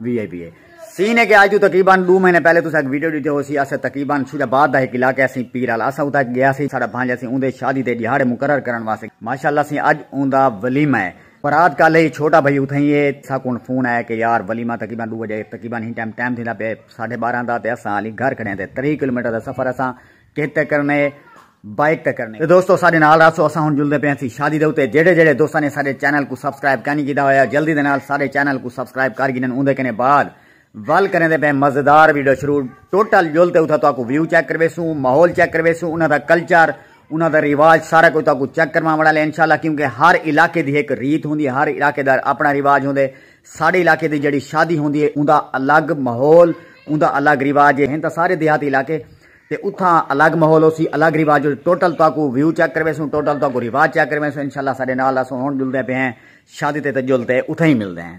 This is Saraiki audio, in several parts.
وی آئی پی اے سین ہے کہ آج تو تقریبا دو مہینے پہلے تسا ایک ویڈیو ڈیتے ہو سی اسے تقریبا شجا باد دا ایک علاقہ سی پیرال اسا اتا گیا سی ساڑا بھانجا سی اوندے شادی دے دیہاڑے مقرر کرن واسطے ماشاءاللہ سی اج اوندا ولیمہ ہے برات کل ہی چھوٹا بھائی اتھا ہی ہے سا کون فون آیا کہ یار ولیمہ تقریبا دو بجے تقریبا ہی ٹائم ٹائم تھیندا پے ساڑھے بارہ دا تے اسا علی گھر کھڑے ہیں تے تری کلومیٹر دا سفر اسا کہہ تے کرݨے بائیک تے کرݨے تے دوستو ساڈے نال رہسو اساں ہن جلدے پئے ہسی شادی دے اتے جیڑھے جیڑھے دوستاں نے ساڈے چینل کوں سبسکرائب کینی کیتا ہویا جلدی دے نال ساڈے چینل کوں سبسکرائب کر گھنن اوندے کنے بعد ول کریندے پئے مزیدار ویڈیو شروع ٹوٹل جل تے اتھاں تہاکوں ویو چیک کرویسوں ماحول چیک کرویسوں انہاں دا کلچر انہاں دا رواج سارا کچھ تہاکوں چیک کرواں وڑا لے انشاءاللہ کیونکہ ہر علاقے دی ہک ریت ہوندی ہر علاقے دا اپنا رواج ہوندے ساڈے علاقے دی جڑی شادی ہوندی ہے اوندا الگ ماحول اوندا الگ رواج ہے ہن تاں سارے دیہاتی علاقے تے اتھاں الگ ماحول ہوسی الگ رواج ہوسی ٹوٹل تہاکوں ویو چیک کرویسوں ٹوٹل تہاکوں رواج چیک کرویسوں انشاءاللہ اساڈے نال اسوں ہن جلدے پئے ہیں شادی تے تے جل تے اتھاں ہی ملدے ہیں۔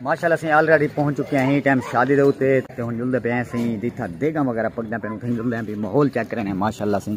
ماشاءاللہ سیں آلریڈی پہنچ چکے ہیں ٹائم شادی دے اوتے تے ہن جلدے پے ہیں سیں جتھا دیگا وغیرہ پکدا پے اوتھے جلدے ہیں بھی ماحول چیک کرنے ماشاءاللہ سیں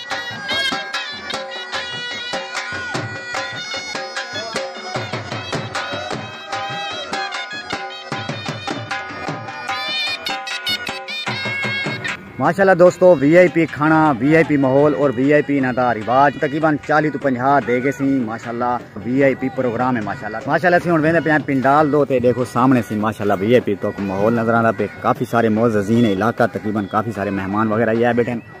ماشاءاللہ دوستو وی آئی پی کھانا وی آئی پی ماحول اور وی آئی پی انہاں دا رواج تقریباً 40 تو 50 دے گئے سی ماشاءاللہ وی آئی پی پروگرام ہے ماشاءاللہ ماشاءاللہ سی ہن ویندے پیا پنڈال دو تے دیکھو سامنے سی ماشاءاللہ وی آئی پی تو ماحول نظر آندا پے کافی سارے معززین علاقہ تقریباً کافی سارے مہمان وغیرہ یہ بیٹھے ہیں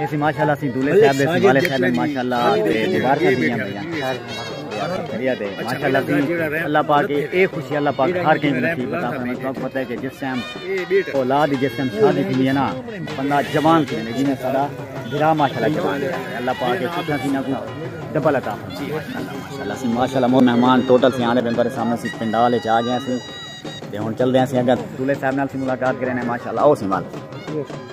ایسی ماشاءاللہ سی دولے صاحب دے سنبھالے صاحب دے ماشاءاللہ تے دیوار کا دیا بھیا شریعت ہے ماشاءاللہ سی اللہ پاک اے خوشی اللہ پاک ہر کہیں نصیب عطا فرمائے تو پتہ ہے کہ جس ٹائم اولاد جس ٹائم شادی تھی ہے نا بندہ جوان تھی ہے جنہیں سارا بھرا ماشاءاللہ جوان ہے اللہ پاک کے سوچا تھی نہ کوئی ڈبل عطا فرمائے ماشاءاللہ سی ماشاءاللہ مو مہمان ٹوٹل سی آنے بندے سامنے سی پنڈال وچ آ گئے سی تے ہن چل دے سی اگے دولے صاحب نال سی ملاقات کرنے ماشاءاللہ او سی مال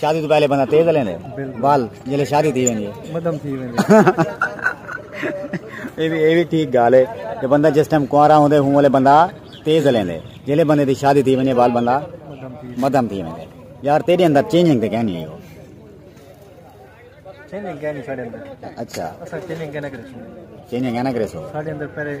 شادی تو پہلے بندہ تیز لے لے بال جلے شادی تھی ویندی ہے مدم تھی ویندی اے بھی اے بھی ٹھیک گال ہے کہ بندہ جس ٹائم کوارا ہوندے ہوں والے بندہ تیز لے لے جلے بندے دی شادی تھی ویندی بال بندہ مدم تھی ویندی یار تیرے اندر چینجنگ تے کہنی ہے چینجنگ کہنی ساڈے اندر اچھا اسا چینجنگ کہنا کرے چینجنگ کہنا کرے سو ساڈے اندر پہلے